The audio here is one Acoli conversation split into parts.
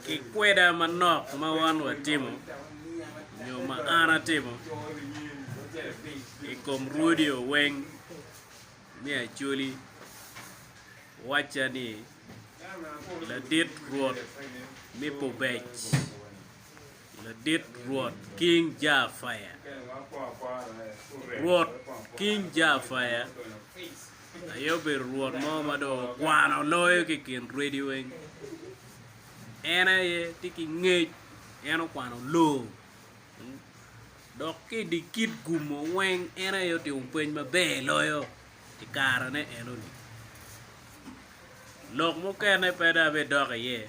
ki kweda manok ma wan watimo nyo ma an atimo i kom rwodiwa weng me Acholi, wacca ni, Ladit Rwot me Pubec. Ladit Rwot King Jaafaya Rwot King Jaafaya aye obedo Rwot mo ma dong okwano loyo ki i kin rwedi weng. En aye tye ki ngec, en okwano loo, dok ki i dye kit gumo weng en aye otimo pweny maber loyo i karene enoni. Lok mukene pe dong abidok iye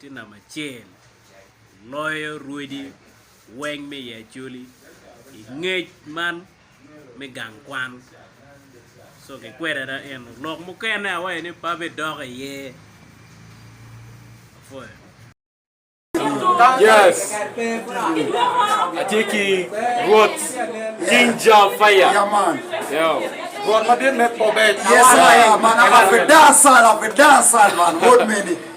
Tye namba acel loyo rwodi weng me i Acholi i ngec man me gang kwan. So kikwede ada eno lok mukene awaco ni pe abidok iye. Afoyo. Yes. Atye ki Rwot King Jah Fire. Yeah, man. Yo. Rwot madit me kobbe. Yes, I am, man. I'm a Fidasal, a Fidasal, man. Wod meni.